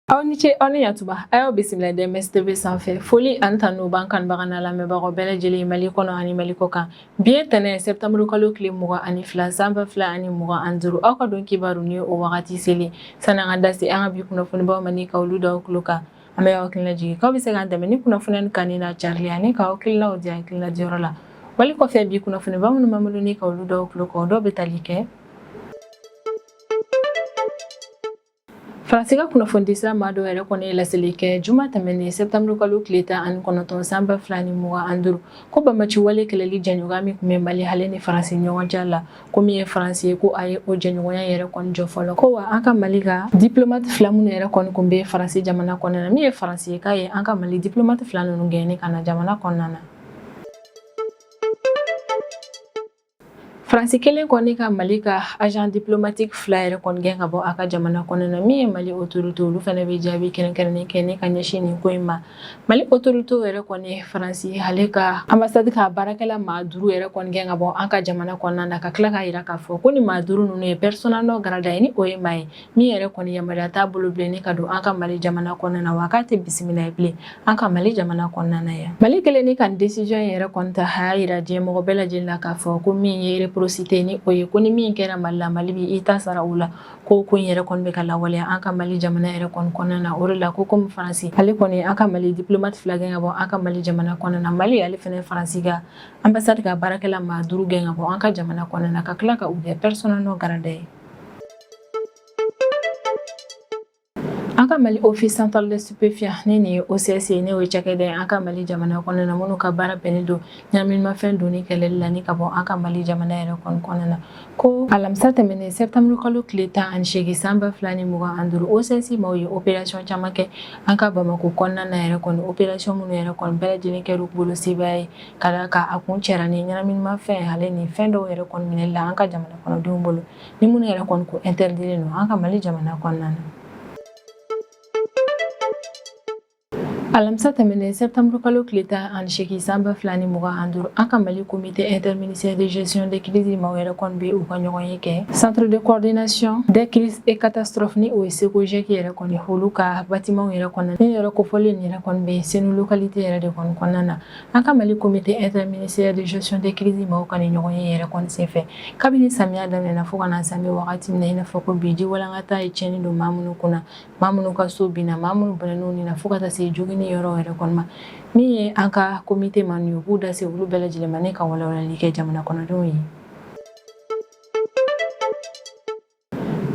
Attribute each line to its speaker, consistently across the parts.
Speaker 1: aw ni ce aw ni yatuba a y'aw bisimila DMS tv sanfɛ foli ani tanu b'an kanubaga n'a lamɛnbagaw bɛɛ lajɛlen mali kɔnɔ ani mali kɔ kan bi ye tɛnɛn sɛbtanburu kalo tile mugan ani fila san ba fila ani mugan an duuru aw ka don kibaru ni o wagati selen san'an ka da se an ka bi kunnafonibaw ma ni ka olu da aw tulo kan an bɛ aw hakilina jigin k'aw bɛ se k'an dɛmɛ ni kunnafoni kanuni n'a carili ani ka hakilinaw di hakilina diyɔrɔ la wali kɔfɛ bi kunnafoniba minnu b'an bolo ni ka olu da aw tulo kan dɔw bɛ tali kɛ faransi ka kunnafonidisira maa dɔw yɛrɛ kɔni ye laseli kɛ juma tɛmɛnen sɛbtanburu kalo tile tan ani kɔnɔntɔn san ba fila ni mugan an duuru ko banbaanci wale kɛlɛli jɛɲɔgɔnya min tun bɛ mali ale ni faransi ɲɔgɔn cɛ la ko min ye faransi ye ko a ye o jɛɲɔgɔnya yɛrɛ kɔni jɔ fɔlɔ ko wa an ka mali ka diplomate fila minnu yɛrɛ kɔni kun bɛ faransi jamana kɔnɔna na min ye faransi ye k'a ye an ka mali diplomate fila ninnu gɛn ni ka na jamana kɔnɔna na faransi kelen kɔni ka mali ka agent diplomatique fila yɛrɛ kɔni gɛn ka bɔ a ka jamana kɔnɔna na min ye mali autorité olu fana bɛ jaabi kɛrɛnkɛrɛnnen kɛ ni ka ɲɛsin nin ko in ma mali autorité yɛrɛ kɔni ye faransi ale ka anbasadi ka baarakɛla maa duuru yɛrɛ kɔni gɛn ka bɔ an ka jamana kɔnɔna na ka tila k'a yira k'a fɔ ko ni maa duuru ninnu ye persona non grata ye ni o ye maa ye min yɛrɛ kɔni yamaruya t'a bolo bilen ni ka don an ka mali jamana kɔnɔna na wa k'a tɛ bisimila ye bilen an ka mali jamana kɔnɔna na yan mali kelen ni ka desizɔn yɛrɛ kɔni ta a y'a yira diɲɛ mɔgɔ bɛɛ lajɛlen na k'a fɔ ko min ye réciprocité ni o ye ko ni min kɛra mali la mali bi i ta sara o la ko ko in yɛrɛ kɔni bɛ ka lawaleya an ka mali jamana yɛrɛ kɔni kɔnɔna na o de la ko komi faransi ale kɔni an ka mali diplomate fila gɛn ka bɔ an ka mali jamana kɔnɔna na mali ale fana faransi ka ambassade ka baarakɛla maa duuru gɛn ka bɔ an ka jamana kɔnɔna na ka tila ka u kɛ persona non grata ye An ka mali office central de stupéfiants ni o ye OCS ni o ye cakɛda ye an ka mali jamana kɔnɔna na minnu ka baara bɛnnen don ɲɛnaminimafɛn donni kɛlɛli la ka bɔ an ka mali jamana yɛrɛ kɔnɔna na ko alamisa tɛmɛnen sɛtanburu kalo tile tan ani seegin san ba fila ni mugan an duuru OCS maaw ye opération caman kɛ an ka bamakɔ kɔnɔna na yɛrɛ opération minnu yɛrɛ kɔni bɛɛ lajɛlen kɛra u bolo sebaya ye ka d'a kan a kuncɛra ni ɲɛnaminimafɛn ale ni fɛn dɔw yɛrɛ kɔni minɛli la an ka jamana kɔnɔdenw bolo ni minnu yɛrɛ kɔni ko interdilen don an ka mali jamana kɔnɔna na alamisa tɛmɛnen sɛptanburu kalo tile tan ani seegin san ba fila ni mugan ani duuru an ka mali comité interministère de gestion de crise maaw yɛrɛ kɔni be u ka ɲɔgɔnye kɛ centre de coordination de crise et catastrophe ni o ye CECOGEC yɛrɛ kɔni olu ka batimanw yɛrɛ kɔnɔna ni yɔrɔ kofɔlen nin yɛrɛ kɔni bɛ senu localité yɛrɛ de kɔni kɔnɔna na An ka Mali comité interministériel de gestion des crises maaw ka ni ɲɔgɔn ye yɛrɛ kɔni senfɛ kabini samiya daminɛna fo ka na se an bɛ wagati min na i n'a fɔ ko bi ji walankata ye tiɲɛni don maa minnu kunna maa minnu ka so binna maa minnu bɔnɛn'u ni na fo ka taa se jogini yɔrɔ yɛrɛ kɔni ma min ye an ka comité maa ninnu ye u b'u da se olu bɛɛ lajɛlen ma ni ka walawalali kɛ jamana kɔnɔdenw ye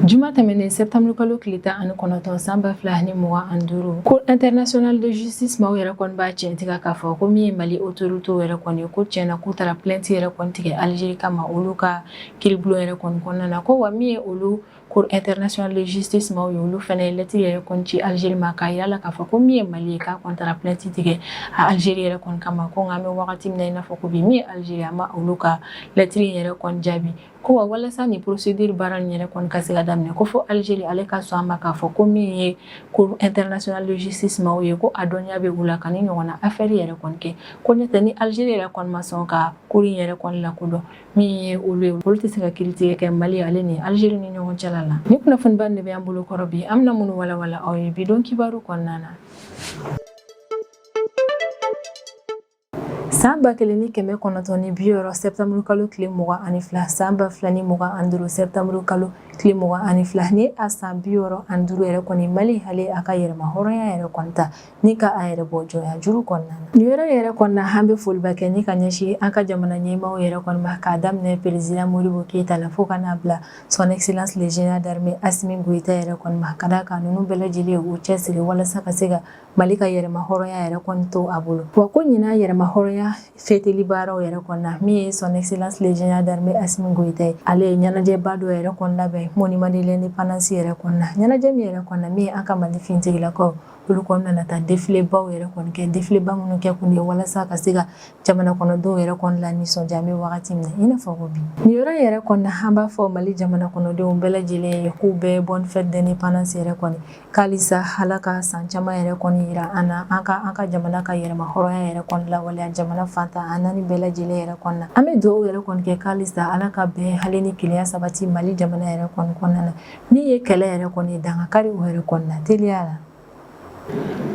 Speaker 1: Juma tɛmɛnen septembre kalo tile tan ani kɔnɔntɔn san ba fila ni mugan ani duuru Cour internationale de justice maaw yɛrɛ kɔni b'a tiɲɛtigiya k'a fɔ ko min ye mali autorité yɛrɛ kɔni ko tiɲɛna k'u taara plainte yɛrɛ kɔni tigɛ algérie kama olu ka kiiribulon yɛrɛ kɔni kɔnɔna na ko wa min ye olu Cour internationale de justice maaw ye olu fana ye lettre yɛrɛ kɔni ci algérie ma k'a yira la k'a fɔ ko min ye mali ye k'a kɔni taara plainte tigɛ a algérie yɛrɛ kɔni kama ko nka an bɛ wagati min na i n'a fɔ ko bi min ye algérie a ma olu ka lettre yɛrɛ kɔni jaabi Ko wa walasa ni procédure baara nin yɛrɛ kɔni ka se ka daminɛ ko fo Algérie ale ka sɔn a ma k'a fɔ ko min ye Cour internationale de justice maaw ye ko a dɔnniya bɛ u la ka nin ɲɔgɔnna affaire yɛrɛ kɔni kɛ ko n'o tɛ ni Algérie yɛrɛ kɔni ma sɔn ka cour in yɛrɛ kɔni lakodɔn min ye olu ye olu tɛ se ka kiiritigɛ kɛ Mali ale ni Algérie ni ɲɔgɔn cɛla la ni kunnafoniba de bɛ an bolo kɔrɔ bi an bɛna minnu walawala aw ye bi don kibaru kɔnɔna na San ba kelen ni kɛmɛ kɔnɔntɔn ni bi wɔɔrɔ septembre kalo tile mugan ani fila san ba fila ni mugan ani duuru septembre kalo tile mugan ani fila ni a san bi wɔɔrɔ ani duuru yɛrɛ kɔni Mali ale y'a ka yɛrɛma hɔrɔnya yɛrɛ kɔni ta ni ka a yɛrɛ bɔ jɔnya juru kɔnɔna na nin yɔrɔ yɛrɛ kɔnɔna an bɛ foliba kɛ ni ka ɲɛsin an ka jamana ɲɛmaaw yɛrɛ kɔni ma k'a daminɛ président Modibo Keyita la fo ka n'a bila son excellence le général d'armée Assimi Goïta yɛrɛ kɔni ma ka d'a kan ninnu bɛɛ lajɛlen y'u cɛsiri walasa ka se ka Mali ka yɛrɛma hɔrɔnya yɛrɛ kɔni to a bolo wa ko ɲina yɛrɛma hɔrɔnya fɛtili baaraw yɛrɛ kɔnɔna min ye son excellence le général d'armée Assimi Goïta ye ale ye ɲɛnajɛba dɔ yɛrɛ kɔni labɛn monument de l'indépendance yɛrɛ kɔnɔna ɲɛnajɛ min yɛrɛ kɔnɔna min ye an ka Mali finitigilakaw olu kɔni nana taa défilébaw yɛrɛ kɔni kɛ défiléba minnu kɛ kun ye walasa ka se ka jamana kɔnɔdenw yɛrɛ kɔni lanisɔndiya an bɛ wagati min na i n'a fɔ ko bi nin yɔrɔ yɛrɛ kɔnɔna an b'a fɔ Mali jamana kɔnɔdenw bɛɛ lajɛlen ye k'u bɛɛ bonne fête d'indépendance yɛrɛ kɔni Halisa Ala ka san caman yɛrɛ kɔni yira an na, an ka an ka jamana ka yɛrɛma hɔrɔnya yɛrɛ kɔni lawaleya jamana fan tan ani naani bɛɛ lajɛlen yɛrɛ kɔnɔna na, an bɛ dugawu yɛrɛ kɔni kɛ halisa Ala ka bɛn ale ni kelenya sabati Mali jamana yɛrɛ kɔni kɔnɔna na, min ye kɛlɛ yɛrɛ kɔni ye dankari o yɛrɛ kɔni na teliya la.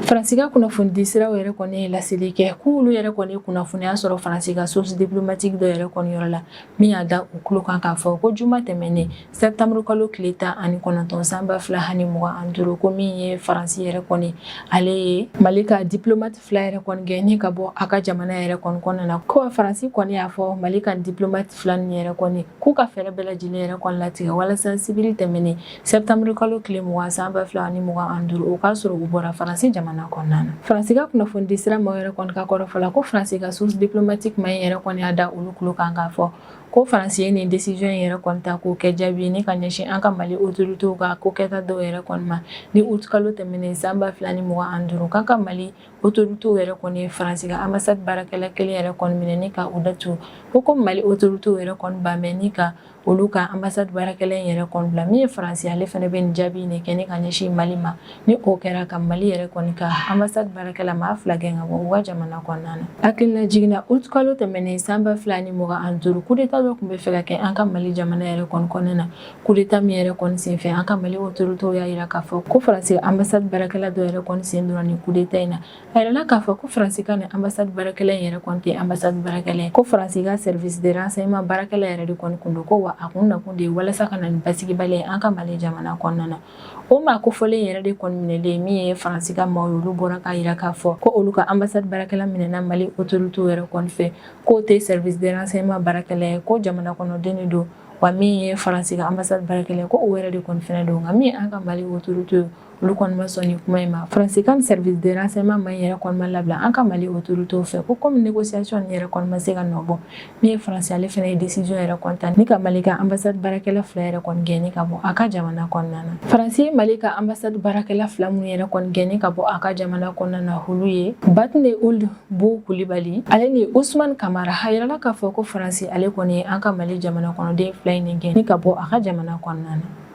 Speaker 1: Faransi ka kunnafonidi siraw yɛrɛ kɔni ye laseli kɛ k'olu yɛrɛ kɔni ye kunnafoniya sɔrɔ Faransi ka source diplomatique dɔ yɛrɛ kɔni yɔrɔ la, min y'a da u tulo kan k'a fɔ ko juma tɛmɛnen Septembre kalo tile tan ani kɔnɔntɔn san ba fila ani mugan ani duuru ko min ye Faransi yɛrɛ kɔni ale ye Mali ka diplomate fila yɛrɛ kɔni gɛnni ka bɔ a ka jamana yɛrɛ kɔni kɔnɔna na ko Faransi kɔni y'a fɔ Mali ka diplomate fila ninnu yɛrɛ kɔni k'u ka fɛɛrɛ bɛɛ lajɛlen yɛrɛ kɔni latigɛ walasa sibiri tɛmɛnen septembre kalo tile mugan san ba fila ani mugan ani duuru o k'a sɔrɔ u bɔra Faransi jamana kɔnɔna na Faransi ka kunnafonidisira maaw yɛrɛ kɔni ka kɔrɔfɔ la ko Faransi ka source diplomatique maa in yɛrɛ kɔni y'a da olu tulo kan k'a fɔ Ko faransi ye nin desiziyɔn in yɛrɛ kɔni ta k'o kɛ jaabi ni ka ɲɛsin an ka mali otoritew ka ko kɛta dɔw yɛrɛ kɔni ma ni utkalo tɛmɛnen san ba fila ni mugan ani duuru k'an ka mali otoritew yɛrɛ kɔni ye faransi ka anbasadi baarakɛla kelen yɛrɛ kɔni minɛ ni ka u datugu ko komi mali otoritew yɛrɛ kɔni bannen ni ka olu ka anbasadi baarakɛla in yɛrɛ kɔni bila min ye faransi ale fana bɛ nin jaabi nin kɛ ni ka ɲɛsin mali ma ni o kɛra ka mali yɛrɛ kɔni ka anbasadi baarakɛla maa fila gɛn ka bɔ u ka jamana kɔnɔna na hakililajigin na utkalo tɛmɛnen san ba fila ni mugan ani duuru kudeta dɔ tun bɛ fɛ ka kɛ an ka mali jamana yɛrɛ kɔni kɔnɔna na kudeta min yɛrɛ kɔni senfɛ an ka mali otoritew y'a jira k'a fɔ ko faransi anbasadi baarakɛla dɔ yɛrɛ kɔni sen donna nin kudeta in na a yirala k'a fɔ ko faransi ka nin anbasadi baarakɛla in yɛrɛ kɔni tɛ anbasadi baarakɛla ko faransi ka sɛrivis de ransɛyema baarakɛla yɛrɛ de kɔni kun don ko wa a kun nakun de ye walasa ka na ni basigibaliya an ka mali jamana kɔnɔna na o maa kofɔlen yɛrɛ de kɔni minɛlen min ye faransi ka maaw olu bɔra k'a yira k'a fɔ ko olu ka anbasadi baarakɛla minɛna mali otoritew yɛrɛ kɔni fɛ k'o tɛ sɛrivis de ransɛyema baarakɛla ye ko jamana kɔnɔden de don wa min ye faransi ka anbasadi baarakɛla ye ko o yɛrɛ de kɔni fɛnɛ don nka min an ka mali otoritew ye olu kɔni ma sɔn nin kuma in ma faransi ka sɛrivis de ransɛyema maa yɛrɛ kɔni ma labila an ka mali otoritew fɛ ko komi negosiyasɔn nin yɛrɛ kɔni ma se ka nɔ bɔ Min ye faransi ale fana ye desiziyɔn yɛrɛ kɔni ta ni ka mali ka anbasadi baarakɛla fila yɛrɛ kɔni gɛnni ka bɔ a ka jamana kɔnɔna na faransi ye mali ka anbasadi baarakɛla fila minnu yɛrɛ kɔni gɛnni ka bɔ a ka jamana kɔnɔna na olu ye batne uld bu kulibali ale ni usumani kamara a yirala k'a fɔ ko faransi ale kɔni ye an ka mali jamana kɔnɔden fila in ni gɛnni ka bɔ a ka jamana kɔnɔna na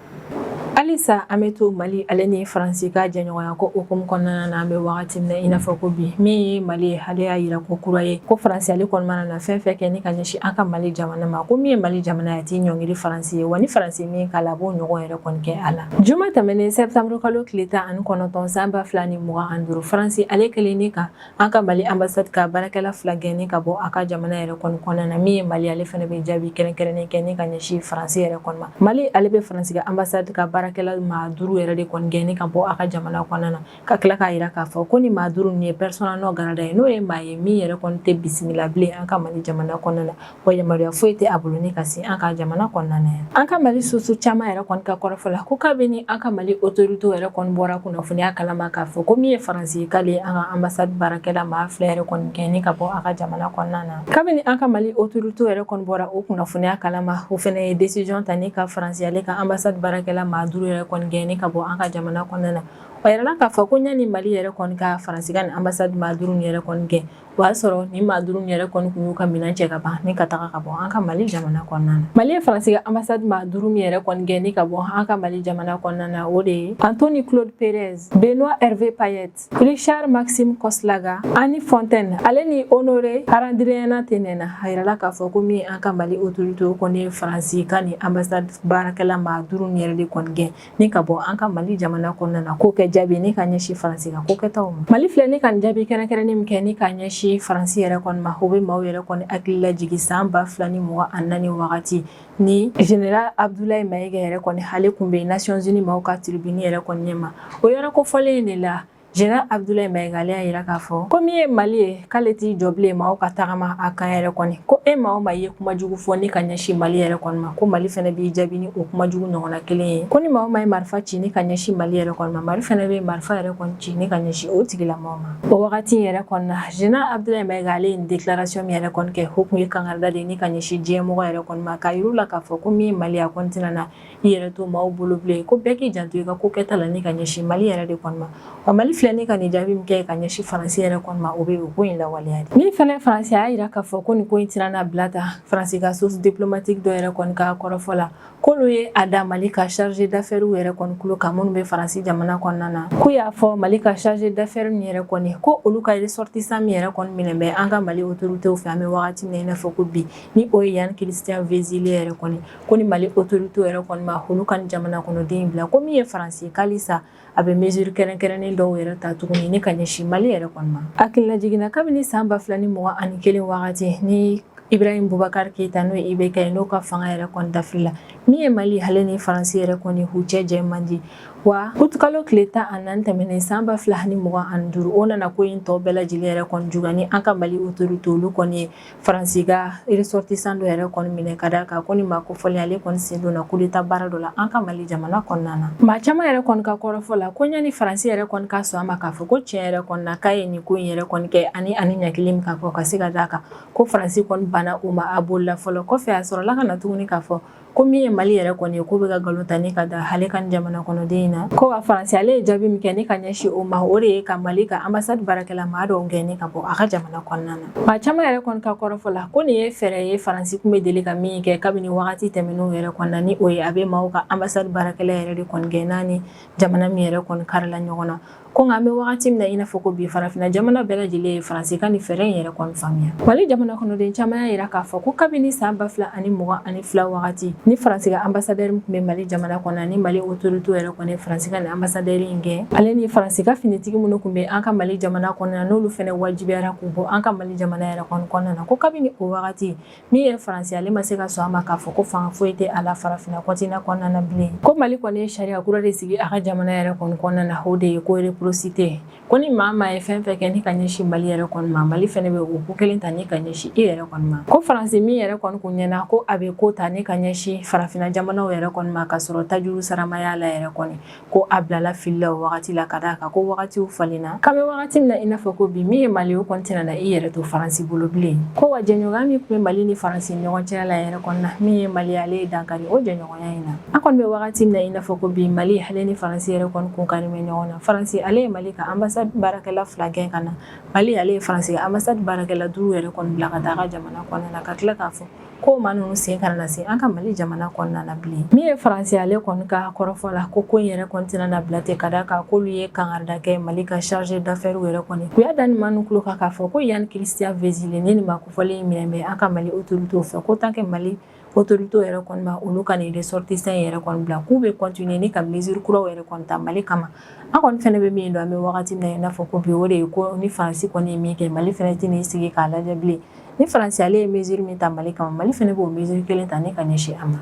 Speaker 1: halisa an bɛ to mali ale ni faransi ka jɛɲɔgɔnya ko hukumu kɔnɔna na an bɛ wagati min na i n'a fɔ ko bi min ye mali ye ale y'a yira ko kura ye ko faransi ale kɔni mana na fɛn fɛn kɛ ni ka ɲɛsin an ka mali jamana ma ko min ye mali jamana ye a t'i ɲɔngiri faransi ye wa ni faransi min k'a la a b'o ɲɔgɔn yɛrɛ kɔni kɛ a la juma tɛmɛnen sɛbitanburukalo tile tan ani kɔnɔntɔn san ba fila ni mugan ani duuru faransi ale kɛlen ni ka An ka Mali ambassade ka baarakɛla fila gɛnni ka bɔ a ka jamana yɛrɛ kɔni kɔnɔna na min ye Mali ale fana bɛ jaabi kɛrɛnkɛrɛnnen kɛ ni ka ɲɛsin Faransi yɛrɛ kɔni ma. Mali ale bɛ Faransi ka ambassade ka baarakɛla maa duuru yɛrɛ de kɔni gɛnni ka bɔ a ka jamana kɔnɔna na ka tila k'a jira k'a fɔ ko nin maa duuru ninnu ye persona non grata ye n'o ye maa ye min yɛrɛ kɔni tɛ bisimila bilen an ka Mali jamana kɔnɔna na. wa yamaruya foyi tɛ a bolo ni ka se an ka jamana kɔnɔna na yan an ka mali source caman yɛrɛ kɔni ka kɔrɔfɔ la ko kabini an ka mali otoritew yɛrɛ kɔni bɔra kunnafoniya kalama k'a fɔ ko min ye faransi k'ale ye an ka anbasadi baarakɛla maa fila yɛrɛ kɔni gɛn ni ka bɔ a ka jamana kɔnɔna na kabini an ka mali otoritew yɛrɛ kɔni bɔra o kunnafoniya kalama o fana ye desisiyɔn ta ni ka faransi ale ka anbasadi baarakɛla maa duuru yɛrɛ kɔni gɛn ni ka bɔ an ka jamana kɔnɔna na o yirala k'a fɔ ko ɲani mali yɛrɛ kɔni ka faransi ka nin anbasadi maa duuru yɛrɛ kɔni gɛn O y'a sɔrɔ nin maa duuru yɛrɛ kɔni kun y'u ka minɛn cɛ ka ban ni ka taga ka bɔ an ka mali jamana kɔnɔna na mali ye faransi ka anbasadi maa duuru min yɛrɛ kɔni gɛn ni ka bɔ an ka mali jamana kɔnɔna na o de ye anthony claude perez benoit herve payet richard maxime koslaga annie fontaine ale ni honore harandrianatenena a yirala k'a fɔ ko min an ka mali otoritew kɔni ye faransi ka nin anbasadi baarakɛla maa duuru yɛrɛ de kɔni gɛn Ni ka bɔ an ka Mali jamana kɔnɔna na k'o kɛ jaabi ni ka ɲɛsin Faransi ka ko kɛtaw ma. Mali filɛ ni ka nin jaabi kɛrɛnkɛrɛnnen min kɛ ni ka ɲɛsin Faransi yɛrɛ kɔni ma, o bɛ maaw yɛrɛ kɔni hakili lajigin san 2024 wagati ni Général Abdoulaye Maïga yɛrɛ kɔni ale kun bɛ Nations Unies maaw ka tribune yɛrɛ kɔni ɲɛma. O yɔrɔ kofɔlen in de la, Général Abudulayi Mayiga ale y'a jira k'a fɔ ko min ye Mali ye k'ale t'i jɔ bilen maaw ka tagama a kan yɛrɛ kɔni ko e maa o maa i ye kuma jugu fɔ ni ka ɲɛsin Mali yɛrɛ kɔni ma ko Mali fɛnɛ b'i jaabi ni o kuma jugu ɲɔgɔnna kelen ye ko ni maa o maa ye marifa ci ni ka ɲɛsin Mali yɛrɛ kɔni ma Mali fɛnɛ bɛ marifa yɛrɛ kɔni ci ni ka ɲɛsin o tigilamɔgɔ ma o wagati in yɛrɛ kɔni na Général Abudulayi Mayiga ale ye nin déclaration min yɛrɛ kɔni kɛ o kun ye kangarida de ni ka ɲɛsin diɲɛmɔgɔ yɛrɛ kɔni ma k'a yir'u la k'a fɔ ko min ye Mali ye a kɔni tɛna na i yɛrɛ to maaw bolo bilen ko bɛɛ k'i janto i ka ko kɛta la ni ka ɲɛsin mali yɛrɛ de kɔni ma wa mali filɛ ni ka nin jaabi min kɛ ka ɲɛsin faransi yɛrɛ kɔni ma o bɛ o ko in lawaleya de min fana faransi y'a jira k'a fɔ ko nin ko in tɛna na bila tan faransi ka source diplomatique dɔ yɛrɛ kɔni ka kɔrɔfɔ la k'olu ye a da mali ka chargé d'affaires yɛrɛ kɔni tulo kan minnu bɛ faransi jamana kɔnɔna na k'u y'a fɔ mali ka chargé d'affaires min yɛrɛ kɔni ko olu ka ressortissant min yɛrɛ kɔni minɛ bɛ an ka mali autorités fɛ an bɛ wagati min na i n'a fɔ ko bi ni o ye Yann Christian Vezilier yɛrɛ kɔni ko ni mali otoritew yɛrɛ kɔni ma olu ka jamana kɔnɔden bila ko min ye faransi k'alisa a bɛ mesure kɛrɛnkɛrɛnnen dɔw yɛrɛ ta tuguni ni ka ɲɛsin mali yɛrɛ kɔni ma a hakililajigin na kabini san ba fila ni mugan ni kelen wagati ni ibrahim bubakari keyita n'o ye IBK ye n'o ka fanga yɛrɛ kɔni dafirila min ye mali ale ni faransi yɛrɛ kɔni u cɛ jɛ man di wa utikalo tile tan ni naani tɛmɛnen san ba fila ni mugan ni duuru o nana ko in tɔw bɛɛ lajɛlen yɛrɛ kɔni juguya ni an ka mali otoritew olu kɔni ye Faransi ka ressortissant dɔ yɛrɛ kɔni minɛ ka d'a kan ko nin maa kofɔlen ale kɔni sen donna coup d'état baara dɔ la an ka mali jamana kɔnɔna na maa caman yɛrɛ kɔni ka kɔrɔfɔ la ko ɲani faransi yɛrɛ kɔni ka sɔn a ma k'a fɔ ko tiɲɛ yɛrɛ kɔni na k'a ye nin ko in yɛrɛ kɔni kɛ ani ani ɲɛ kelen min ka fɔ ka se ka da a kan ko faransi kɔni banna u ma a bolila fɔlɔ kɔfɛ a sɔrɔla ka na tuguni k'a fɔ ko min ye mali yɛrɛ kɔni ye ko bɛ ka nkalon ta ni ka da ale ka jamana kɔnɔden in na ko wa faransi ale ye jaabi min kɛ ni ka ɲɛsin o ma o de ye ka mali ka anbasadi baarakɛla maa dɔw gɛn ni ka bɔ a ka jamana kɔnɔna na maa caman yɛrɛ kɔni ka kɔrɔfɔ la ko nin ye fɛɛrɛ ye faransi tun bɛ deli ka min kɛ kabini wagati tɛmɛnenw yɛrɛ kɔnɔna ni o ye a bɛ maaw ka anbasadi baarakɛla yɛrɛ de kɔni gɛn n'a ni jamana min yɛrɛ kɔni karila ɲɔgɔn na ko nka an bɛ wagati min na i n'a fɔ ko bi farafinna jamana bɛɛ lajɛlen ye faransi ka nin fɛɛrɛ in yɛrɛ kɔni faamuya mali jamana kɔnɔden caman y'a jira k'a fɔ ko kabini san ba fila ani mugan ani fila wagati ni faransi ka ambasadɛri min tun bɛ mali jamana kɔnɔna ni mali otoritew yɛrɛ kɔni ye faransi ka nin ambasadɛri in gɛn ale ni faransi ka finitigi minnu tun bɛ an ka mali jamana kɔnɔna n'olu fɛnɛ wajibiyara k'u bɔ an ka mali jamana yɛrɛ kɔni kɔnɔna na ko kabini o wagati Min ye faransi ale ma se ka sɔn a ma k'a fɔ ko fanga foyi tɛ a la farafinna kɔntinan kɔnɔna na bilen ko mali kɔni ye sariya kura de sigi a ka jamana yɛrɛ kɔni kɔnɔna na o de ye ko reprosite ko ni maa maa ye fɛn fɛn kɛ ni ka ɲɛsin mali yɛrɛ kɔni ma mali fɛnɛ bɛ o ko kelen ta ni ka ɲɛsin i yɛrɛ kɔni ma ko faransi min yɛrɛ kɔni kun ɲɛna ko a bɛ ko ta ni ka ɲɛsin farafinna jamanaw yɛrɛ kɔni ma ka sɔrɔ tajurusara ma y'a la yɛrɛ kɔni ko a bilala fili la o wagati la ka d'a kan ko wagatiw falenna k'an bɛ wagati min na i n'a fɔ ko bi min ye mali o kɔni tɛna na i yɛrɛ to faransi bolo bilen ko wa jɛɲɔgɔnya min tun bɛ mali ni faransi ɲɔgɔn cɛla yɛrɛ kɔnɔna min ye mali ale ye dankari o jɛɲɔgɔnya in na an kɔni bɛ wagati min na i n'a fɔ ko bi mali ale ni faransi yɛrɛ kɔni kun kari bɛ ɲɔgɔn na faransi ale ye mali ka anbasadi baarakɛla fila gɛn ka na mali ale ye faransi ka anbasadi baarakɛla duuru yɛrɛ kɔni bila ka taa ka jamana kɔnɔna na ka tila k'a fɔ ko maa ninnu sen kana na se an ka mali jamana kɔnɔna na bilen min ye faransi ale kɔni ka kɔrɔfɔ la ko ko in yɛrɛ kɔni tɛna na bila ten ka d'a kan k'olu ye kangarida kɛ mali ka chargé d'affaires yɛrɛ kɔni u y'a da nin maa ninnu tulo kan k'a fɔ ko yann christian vezilier ni nin maa kofɔlen minɛ bɛ an ka mali autorité fɛ ko tant que mali autorité yɛrɛ kɔni ma olu ka nin ressortissant yɛrɛ kɔni bila k'u bɛ continuer ni ka mesure kuraw yɛrɛ kɔni ta mali kama an kɔni fɛnɛ bɛ min dɔn an bɛ wagati min na i n'a fɔ ko bi o de ye ko ni faransi kɔni ye min kɛ mali fɛnɛ tɛn'i sigi k'a lajɛ bilen ni faransi ale ye mesure min ta mali kama mali fana b'o mesure kelen ta ni ka ɲɛsin a ma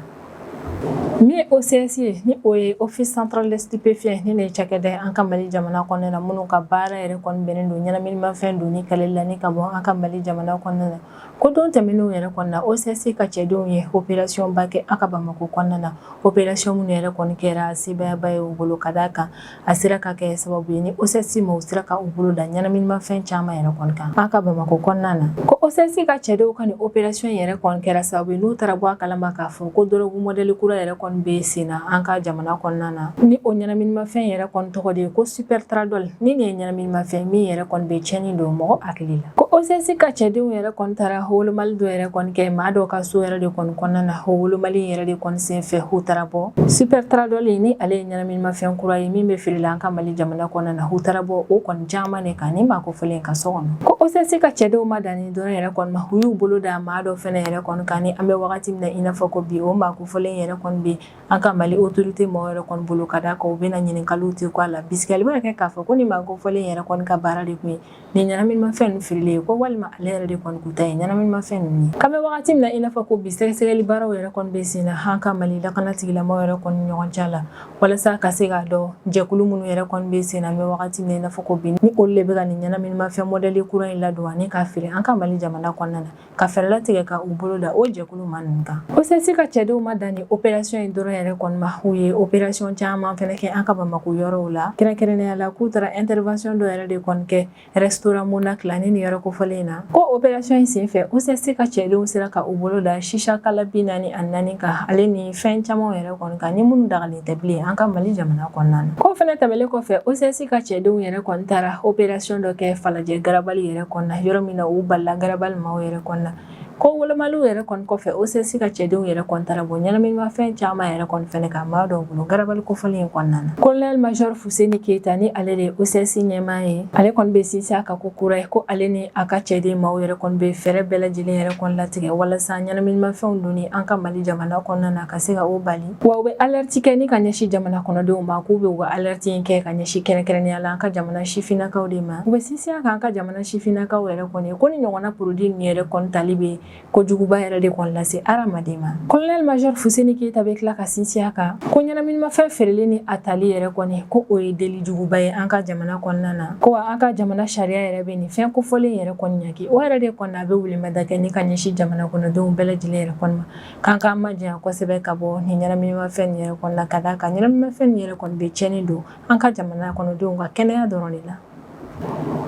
Speaker 1: min ye OCS ye ni o ye office central des stupéfiants ni nin ye cakɛda ye an ka Mali jamana kɔnɔna na minnu ka baara yɛrɛ kɔni bɛnnen don ɲɛnaminimafɛn donni kɛlɛli la ni ka bɔ an ka Mali jamana kɔnɔna na ko don tɛmɛnenw yɛrɛ kɔnɔna na OCS ka cɛdenw ye opération ba kɛ an ka Bamakɔ kɔnɔna na opération minnu yɛrɛ kɔni kɛra sebaayaba ye u bolo ka d'a kan a sera ka kɛ sababu ye ni osɛsi ma u sera ka u bolo da ɲɛnaminimafɛn caman yɛrɛ kɔni kan an ka bamakɔ kɔnɔna na ko osɛsi ka cɛdenw ka nin operasiyɔn yɛrɛ kɔni kɛra sababu ye n'u taara bɔ a kalama k'a fɔ ko dɔrɔgu mɔdɛli kura yɛrɛ kɔni bɛ sen na an ka jamana kɔnɔna na ni o ɲɛnaminimafɛn yɛrɛ kɔni tɔgɔ de ye ko supɛritaradɔli ni nin ye ɲɛnaminimafɛn min yɛrɛ kɔni bɛ tiɲɛni don mɔgɔ hakili la ko osɛsi ka cɛdenw yɛrɛ kɔni taara wolomali dɔ yɛrɛ kɔni kɛ maa dɔw ka so yɛrɛ de kɔni kɔnɔna na o wolomali yɛrɛ de kɔni senfɛ u taara bɔ supɛritaradɔli ni ale ye ɲɛnaminimafɛn Minimafɛn kura ye min bɛ feere la an ka mali jamana kɔnɔna na u taara bɔ o kɔni caman de kan ni maa kofɔlen ka so kɔnɔ ko osɛsi ka cɛdenw ma dan nin dɔrɔn yɛrɛ kɔni ma u y'u bolo da maa dɔ fɛnɛ yɛrɛ kɔni kan ni an bɛ wagati min na i n'a fɔ ko bi o maa kofɔlen yɛrɛ kɔni bɛ an ka mali otorite maaw yɛrɛ kɔni bolo ka d'a kan u bɛna ɲininkaliw tɛ k'a la bisikali bɛ kɛ k'a fɔ ko ni maa kofɔlen yɛrɛ kɔni ka baara de tun ye Nin ɲɛnaminimafɛn ninnu feereli ye ko walima ale yɛrɛ de kɔni kun ta ye ɲɛnaminimafɛn ninnu ye k'an bɛ wagati min na i n'a fɔ ko bi sɛgɛsɛgɛli baaraw yɛrɛ kɔni bɛ sen na an ka mali lakana tigilamɔgɔw yɛrɛ kɔni ɲɔgɔn cɛ la walasa ka se k'a dɔn jɛkulu minnu yɛrɛ kɔni bɛ sen na an bɛ wagati min na i n'a fɔ ko bi ni olu de bɛ ka nin ɲɛnaminimafɛn modɛli kura in ladon ani k'a feere an ka mali jamana kɔnɔna na ka fɛɛrɛ latigɛ ka u bolo da o jɛkulu maa ninnu kan osɛsi ka cɛdenw ma dan ni operasiyɔn in dɔrɔn yɛrɛ kɔni ma u ye operasiyɔn caman fɛnɛ kɛ an ka bamako yɔrɔw la kɛrɛnkɛrɛnnenya la k'u taara ɛntɛrɛvansiyɔn dɔ yɛrɛ de kɔni kɛ rɛsitoran monaki la ni nin yɔrɔ kofɔlen na ko operasiyɔn in sen fɛ osɛsi ka cɛdenw sera ka u bolo da sisa kala bi naani ani naani kan ale ni fɛn camanw yɛrɛ kɔni kan ni minnu dagalen tɛ bilen an ka mali jamana kɔnɔna na ko fɛnɛ tɛmɛlen kɔfɛ osɛsi ka cɛdenw yɛrɛ kɔni taara operasiyɔn dɔ kɛ falajɛ garabali yɛrɛ kɔnɔna yɔrɔ min na u balala garabali maaw yɛrɛ kɔni na ko wolomaliw yɛrɛ kɔni kɔfɛ osɛsi ka cɛdenw yɛrɛ kɔni taara bɔ ɲɛnaminimafɛn caman yɛrɛ kɔni fɛnɛ kan maa dɔw bolo garabali kofɔlen in kɔnɔna na kolonɛli majɔr fuseni keyita ni ale de ye osɛsi ɲɛmaa ye ale kɔni bɛ sinsin a kan ko kura ye ko ale ni a ka cɛden maaw yɛrɛ kɔni bɛ fɛɛrɛ bɛɛ lajɛlen yɛrɛ kɔni latigɛ walasa ɲɛnaminimafɛnw donni an ka mali jamana kɔnɔna na ka se ka o bali Wa u bɛ alɛriti kɛ ni ka ɲɛsin jamana kɔnɔdenw ma k'u bɛ u ka alɛriti in kɛ ka ɲɛsin kɛrɛnkɛrɛnnenya la an ka jamana sifinnakaw de ma u bɛ sinsin a kan an ka jamana sifinnakaw yɛrɛ kɔni ko nin ɲɔgɔnna porodi ninnu yɛrɛ kɔni tali bɛ ko juguba yɛrɛ de kɔni lase hadamaden ma kolonɛli majɔr fuseni keyita bɛ tila ka sinsin a kan ko ɲɛnaminimafɛn feereli ni a tali yɛrɛ kɔni ko o ye deli juguba ye an ka jamana kɔnɔna na ko an ka jamana sariya yɛrɛ bɛ nin fɛn kofɔlen yɛrɛ kɔni ɲaki o yɛrɛ de kɔnɔ a bɛ weleweleda kɛ ni ka ɲɛsin jamana kɔnɔdenw bɛɛ lajɛlen yɛrɛ kɔni K'an k'an majanya kosɛbɛ ka bɔ nin ɲɛnaminimafɛn in yɛrɛ kɔni la ka d'a kan ɲɛnaminimafɛn in yɛrɛ kɔni bɛ cɛnni don an ka jamana kɔnɔdenw ka kɛnɛya dɔrɔn de la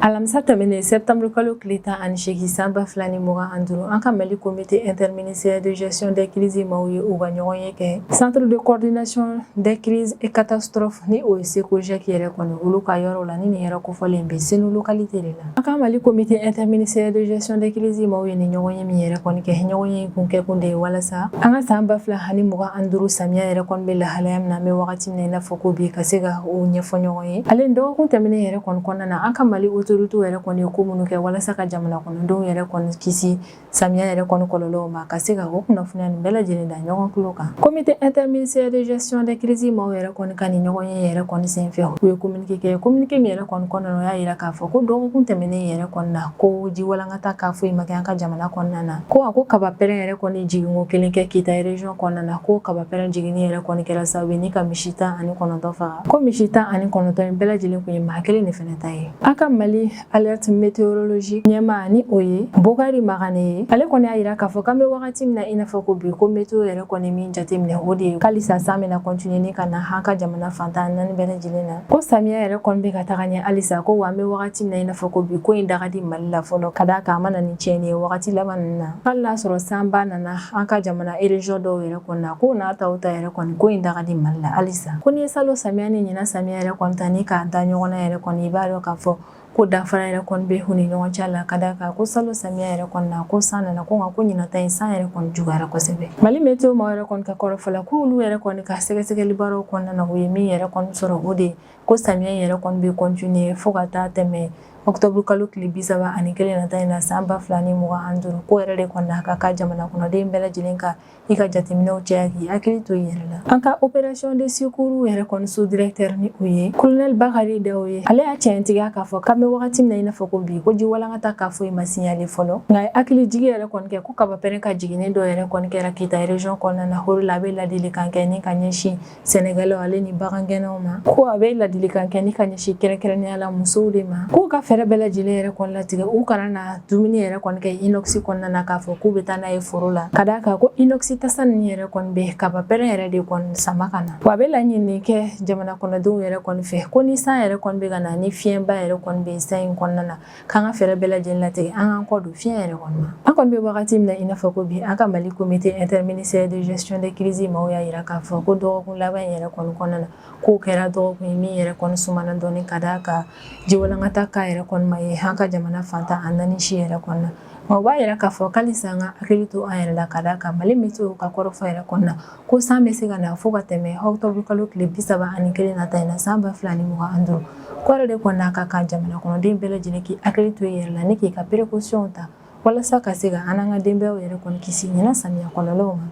Speaker 1: alamisa tɛmɛnen sɛtanburukalo tile tan ani segin san ba fila ni mugan ani duuru an ka mali comité interministériel de gestion de crise maaw ye u ka ɲɔgɔn ye kɛ centre de coordination des crises et catastrophes ni o ye sekojɛki yɛrɛ kɔni olu ka yɔrɔ la ni nin yɔrɔ kofɔlen bɛ senu lokalite de la An ka mali comité interministériel de gestion de crise maaw ye nin ɲɔgɔn ye min yɛrɛ kɔni kɛ ɲɔgɔn ye kun kɛ kun de ye walasa an ka san ba fila ani mugan ani duuru samiya yɛrɛ kɔni bɛ lahalaya min na an bɛ wagati min na i n'a fɔ ko bi ka se ka o ɲɛfɔ ɲɔgɔn ye ale ni dɔgɔkun tɛmɛnen yɛrɛ kɔni kɔnɔna na an ka mali otoritew yɛrɛ kɔni ye ko minnu kɛ walasa ka jamana kɔnɔdenw yɛrɛ kɔni kisi Samiya yɛrɛ kɔni kɔlɔlɔw ma ka se ka o kunnafoniya nin bɛɛ lajɛlen da ɲɔgɔn tulo kan comité interministériel de gestion des crises maaw yɛrɛ kɔni ka nin ɲɔgɔnye yɛrɛ kɔni senfɛ u ye kominike kɛ kominike min yɛrɛ kɔni kɔnɔna o y'a yira k'a fɔ ko dɔgɔkun tɛmɛnen yɛrɛ kɔni na ko ji walankata cas foyi ma kɛ an ka jamana kɔnɔna na ko a ko kaba pɛrɛn yɛrɛ kɔni jiginko kelen kɛ kita region kɔnɔna na ko kaba pɛrɛn jiginni yɛrɛ kɔni kɛra sababu ni ka misi tan ani kɔnɔntɔn faga ko misi tan ani kɔnɔntɔn in bɛɛ lajɛlen kun ye maa kelen de fɛnɛ ta ye an ka mali alerte météorologique ɲɛmaa ni o ye bokari magane ye ale kɔni y'a yira k'a fɔ k'an bɛ wagati min na i n'a fɔ ko bi ko meteo yɛrɛ kɔni min jateminɛ o de ye halisa san bɛna kɔntiniye ni ka na an ka jamana fan tan naani bɛɛ lajɛlen na ko samiya yɛrɛ kɔni bɛ ka taga ɲɛ halisa ko wa an bɛ wagati min na i n'a fɔ ko bi ko in daga di mali la fɔlɔ ka d'a kan a ma na ni tiɲɛni ye wagati laban ninnu na hali n'a sɔrɔ sanba nana an ka jamana ereziyɔn dɔw yɛrɛ kɔni na ko n'a ta o ta yɛrɛ kɔni ko in daga di mali la halisa ko n'i ye salon samiya ni ɲinan samiya yɛrɛ kɔni ta ni k'a da ɲɔgɔn na yɛrɛ kɔni i b'a dɔn k'a fɔ ko danfara yɛrɛ kɔni bɛ u ni ɲɔgɔn cɛ la ka d'a kan ko salon samiya yɛrɛ kɔni na ko san nana ko nka ko ɲinan ta in san yɛrɛ kɔni juguyara kosɛbɛ mali meteo maaw yɛrɛ kɔni ka kɔrɔfɔ la ko olu yɛrɛ kɔni ka sɛgɛsɛgɛli baaraw kɔnɔna na u ye min yɛrɛ kɔni sɔrɔ o de ko samiya yɛrɛ kɔni bɛ kɔntiniye fo ka taa tɛmɛ ɔkutɔburu kalo tile bi saba ani kelen nata in na san ba fila ni mugan ani duuru k'o yɛrɛ de kɔni na a ka kan jamana kɔnɔden bɛɛ lajɛlen ka i ka jateminɛw caya k'i hakili to i yɛrɛ la an ka opération de secours yɛrɛ kɔni sous-directeur ni o ye kolonɛli bakari dawo ye ale y'a tiɲɛtigiya k'a fɔ k'an bɛ wagati min na i n'a fɔ ko bi ko ji walankata cas foyi ma siɲale fɔlɔ nka a ye hakilijigin yɛrɛ kɔni kɛ ko kabapɛrɛn ka jiginni dɔ yɛrɛ kɔni kɛra kita ereziyɔn kɔnɔna na o de la a bɛ ladilikan kɛ ni ka ɲɛsin sɛnɛkɛlaw ale ni bagangɛnnaw ma ko a bɛ ladilikan kɛ ni ka ɲɛsin kɛrɛnkɛrɛnnenya la musow de ma k'u ka fɛɛrɛ bɛɛ lajɛlen yɛrɛ kɔni latigɛ u kana na dumuni yɛrɛ kɔni kɛ inox kɔnɔna na k'a fɔ k'u bɛ taa n'a ye foro la ka d'a kan ko inox tasa ninnu yɛrɛ kɔni bɛ kaba pɛrɛn yɛrɛ de kɔni sama ka na wa a bɛ laɲini kɛ jamana kɔnɔdenw yɛrɛ kɔni fɛ ko ni san yɛrɛ kɔni bɛ ka na ni fiɲɛba yɛrɛ kɔni bɛ san in kɔnɔna na k'an ka fɛɛrɛ bɛɛ lajɛlen latigɛ an k'an kɔ don fiɲɛ yɛrɛ kɔni ma an kɔni bɛ wagati min na i n'a fɔ ko bi an ka mali comité interministériel de gestion des crises maaw y'a yira k'a fɔ ko dɔgɔkun laban in yɛrɛ kɔni kɔnɔna na k'o kɛra dɔgɔkun ye min yɛrɛ kɔni sumana dɔɔni ka d'a kan jiwalankata cas yɛrɛ kɔni ma ye an ka jamana fan tan ni naani si yɛrɛ kɔnɔna na o b'a yira k'a fɔ ko halisa an ka hakili to an yɛrɛ la ka d'a kan mali météo ka kɔrɔfɔ yɛrɛ kɔnɔna na ko san bɛ se ka na fo ka tɛmɛ octobre kalo tile bi saba ani kelen nata in na san ba fila ni mugan ani duuru k'o yɛrɛ de kɔni na a ka kan jamana kɔnɔden bɛɛ lajɛlen k'i hakili to i yɛrɛ la ni k'i ka perekosiyɔnw ta walasa ka se ka an n'an ka denbayaw yɛrɛ kɔni kisi ɲinan samiya kɔlɔlɔw ma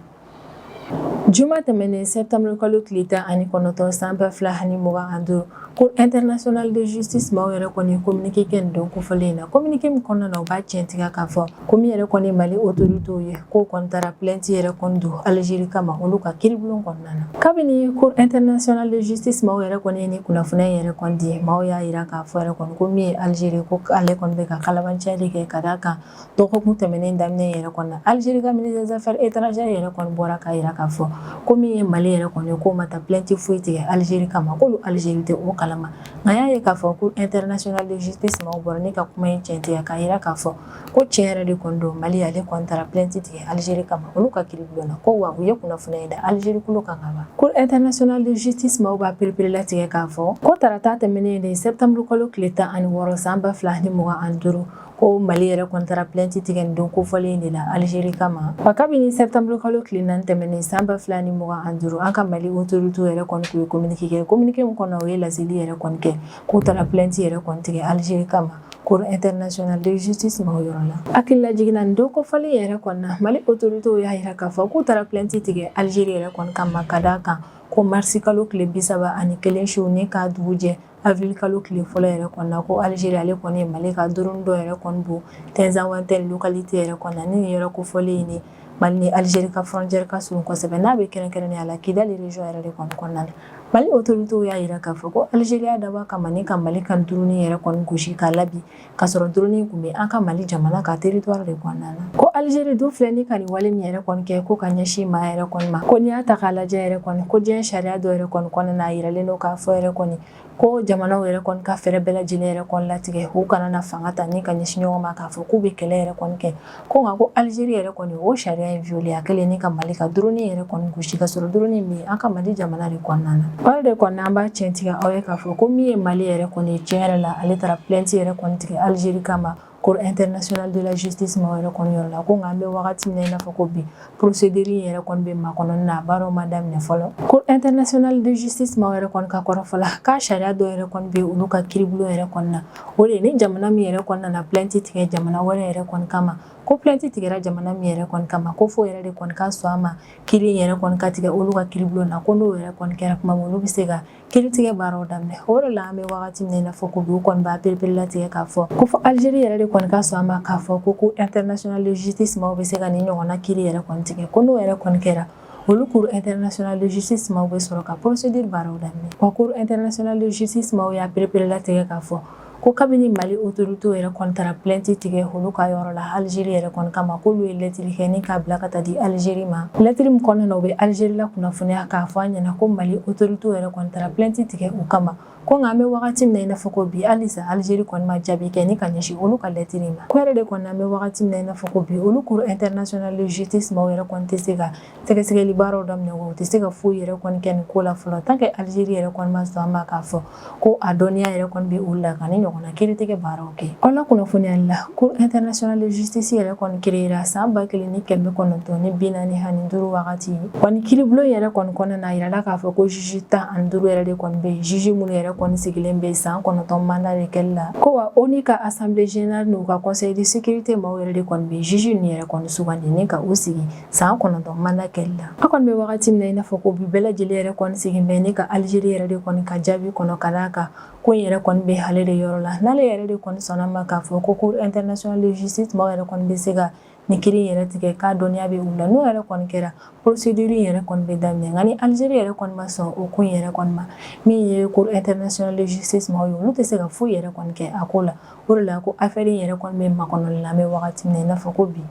Speaker 1: juma tɛmɛnen sɛptanburu kalo tile tan ani kɔnɔntɔn san ba fila ani mugan ani duuru cour internationale de justice maaw yɛrɛ kɔni ye communiqué kɛ nin don kofɔlen in na communiqué min kɔnɔna na u b'a tiɲɛtigiya k'a fɔ ko min yɛrɛ kɔni mali autorités ye k'o kɔni taara plainte yɛrɛ kɔni don algérie kama olu ka kiiribulon kɔnɔna na kabini cour internationale de justice maaw yɛrɛ kɔni ye nin kunnafoni in yɛrɛ kɔni di maaw y'a jira k'a fɔ yɛrɛ kɔni ko min ye algérie ko ale kɔni bɛ ka kalabanciya de kɛ ka d'a kan dɔgɔkun tɛmɛnen daminɛ yɛrɛ kɔnɔ na algérie ka ministre des affaires étrangères yɛrɛ kɔni bɔra k'a jira k'a fɔ ko min ye mali yɛrɛ kɔni k'o ma taa plainte foyi tigɛ algérie kama ko algérie tɛ o kalama nka y'a ye k'a fɔ cour internationale de justice maaw bɔra ni ka kuma in tiɲɛtigiya k'a jira k'a fɔ ko tiɲɛ yɛrɛ de kɔni don mali ale kɔni taara plainte tigɛ algérie kama olu ka kiribulon na ko wa u ye kunnafoniya da algérie kulo kan ka ban cour internationale de justice maaw b'a perepere latigɛ k'a fɔ ko tarata tɛmɛnen de septembre kalo tile tan ani wɔɔrɔ san ba fila ni mugan ani duuru ko mali yɛrɛ kɔni taara plainte tigɛ nin don kofɔlen de la algérie kama wa kabini septembre kalo tile naani tɛmɛnen san ba fila ni mugan ani duuru an ka mali autorités yɛrɛ kɔni tun ye communiqué kɛ communiqué min kɔnɔ o ye laseli yɛrɛ kɔni kɛ k'u taara plainte yɛrɛ kɔni tigɛ algérie kama cour internationale de justice maaw yɔrɔ la hakilila jiginna nin don kofɔlen yɛrɛ kɔnɔna na mali autorités y'a jira k'a fɔ k'u taara plainte tigɛ algérie yɛrɛ kɔni kama ka d'a kan ko marisi kalo tile bi saba ani kelen su ni k'a dugu jɛ avril kalo tile fɔlɔ yɛrɛ kɔnɔna ko algérie ale kɔni ye mali ka drone dɔ yɛrɛ kɔni bon tinzawatɛn localité yɛrɛ kɔnɔna ni nin yɔrɔ kofɔlen ni Mali ni Algérie ka frontière ka surun kosɛbɛ n'a bɛ kɛrɛnkɛrɛnnenya la Kidali région yɛrɛ de kɔni kɔnɔna na Mali autorités y'a jira k'a fɔ ko Algérie y'a dabɔ a kama ni ka Mali ka drone yɛrɛ kɔni gosi k'a labin k'a sɔrɔ drone in tun bɛ an ka Mali jamana ka territoire de kɔnɔna na ko Algérie dun filɛ ni ka nin wale min yɛrɛ kɔni kɛ ko ka ɲɛsin maa yɛrɛ kɔni ma ko n'i y'a ta k'a lajɛ yɛrɛ kɔni ko diɲɛ sariya dɔ yɛrɛ kɔni kɔnɔna na a jiralen don k'a fɔ yɛrɛ kɔni ko jamanaw yɛrɛ kɔni ka fɛɛrɛ bɛɛ lajɛlen yɛrɛ kɔni latigɛ u kana na fanga ta ni ka ɲɛsin ɲɔgɔn ma k'a fɔ k'u bɛ kɛlɛ yɛrɛ kɔni kɛ ko nka ko algérie yɛrɛ kɔni o sariya in violé a kɛlen ni ka mali ka drone yɛrɛ kɔni gosi k'a sɔrɔ drone min an ka mali jamana de kɔnɔna na o de kɔni an b'a tiɲɛtigiya aw ye k'a fɔ ko min ye mali yɛrɛ kɔni tiɲɛ yɛrɛ la ale taara plainte yɛrɛ kɔni tigɛ algérie kama cour internationale de la justice maaw yɛrɛ kɔni yɔrɔ la ko nka an bɛ wagati min na i n'a fɔ ko bi procédure in yɛrɛ kɔni bɛ makɔnɔ na baaraw ma daminɛ fɔlɔ cour internationale de justice maaw yɛrɛ kɔni ka kɔrɔfɔ la ko sariya dɔ yɛrɛ kɔni bɛ olu ka kiribulon yɛrɛ kɔni na o de ni jamana min yɛrɛ kɔni nana plainte tigɛ jamana wɛrɛ yɛrɛ kɔni kama ko plainte tigɛra jamana min yɛrɛ kɔni kama ko fo o yɛrɛ de kɔni ka sɔn a ma kiri yɛrɛ kɔni ka tigɛ olu ka kiribulon na ko n'o yɛrɛ kɔni kɛra kuma olu bɛ se ka kiritigɛ baaraw daminɛ o de la an bɛ wagati min na i n'a fɔ ko bi u kɔni b'a perepere latigɛ k'a fɔ ko fo algérie yɛrɛ de kɔni ka sɔn a ma k'a fɔ ko cour internationale de justice maaw bɛ se ka nin ɲɔgɔnna kiri yɛrɛ kɔni tigɛ ko n'o yɛrɛ kɔni kɛra olu cour internationale de justice maaw bɛ sɔrɔ ka procédure baaraw daminɛ wa cour internationale de justice maaw y'a perepere latigɛ k'a fɔ ko kabini mali autoritéw yɛrɛ kɔni taara plainte tigɛ olu ka yɔrɔ la alizeri yɛrɛ kɔni kama k'olu ye lɛtri kɛ ni k'a bila ka taa di alizeri ma lɛtri min kɔnɔna na u bɛ alizeri lakunnafoniya k'a fɔ a ɲɛna ko mali autoritéw yɛrɛ kɔni taara plainte tigɛ u kama ko nka an bɛ wagati min na i n'a fɔ ko bi halisa alizeri kɔni ma jaabi kɛ ni ka ɲɛsin olu ka lɛtri ma ko yɛrɛ de kɔnɔ an bɛ wagati min na i n'a fɔ ko bi olu cour internationale de justice maaw yɛrɛ kɔni tɛ se ka sɛgɛsɛgɛli baaraw daminɛ u tɛ se ka foyi yɛrɛ kɔni kɛ nin ko la fɔlɔ tant que alizeri yɛrɛ kɔni ma sɔn a ma k'a fɔ ko a dɔnniya yɛrɛ kɔni bɛ olu la ka nin ɲɔgɔnna kiritigɛ baaraw kɛ aw lakunnafoniyali la cour internationale de justice yɛrɛ kɔni créera san ba kelen ni kɛmɛ kɔnɔntɔn ni bi naani ani duuru wagati wa nin kiribulon yɛrɛ kɔni kɔnɔna na a yirala k'a fɔ ko juge tan ani duuru yɛrɛ de kɔni bɛ yen juge minnu yɛrɛ kɔni sigilen bɛ san kɔnɔntɔn manda de kɛli la ko wa ONU ka assemblée générale n'u ka conseil de sécurité maaw yɛrɛ de kɔni bɛ juge ninnu yɛrɛ kɔni sugandi ni ka u sigi san kɔnɔntɔn manda kɛli la an kɔni bɛ wagati min na i n'a fɔ ko bi bɛɛ lajɛlen yɛrɛ kɔni sigilen bɛ ni ka alizeri yɛrɛ de kɔni ka jaabi kɔnɔ ka d'a kan ko in yɛrɛ kɔni bɛ ale de yɔrɔ la n'ale yɛrɛ de kɔni sɔnna a ma k'a fɔ ko cour internationale de justice maaw yɛrɛ kɔni bɛ se ka nin kiri yɛrɛ tigɛ k'a dɔnniya bɛ u la n'o yɛrɛ kɔni kɛra procédure yɛrɛ kɔni bɛ daminɛ nka ni alizeri yɛrɛ kɔni ma sɔn o ko in yɛrɛ kɔni ma min ye cour internationale de justice maaw ye olu tɛ se ka foyi yɛrɛ kɔni kɛ a ko la o de la ko afɛri in yɛrɛ kɔni bɛ makɔnɔli la an bɛ wagati min na i n'a fɔ ko bi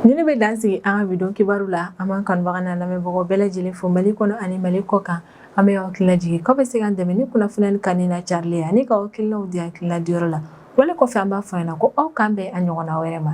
Speaker 1: Nin de bɛ dan sigi an ka bi don kibaru la an b'an kanubaga n'an lamɛnbagaw bɛɛ lajɛlen fo Mali kɔnɔ ani Mali kɔkan an bɛ aw hakilina jigin k'aw bɛ se k'an dɛmɛ ni kunnafoni in kanuni n'a carili ye ani ka aw hakilinaw di hakilina diyɔrɔ la wale kɔfɛ an b'a fɔ aw ɲɛna ko aw k'an bɛn a ɲɔgɔnna wɛrɛ ma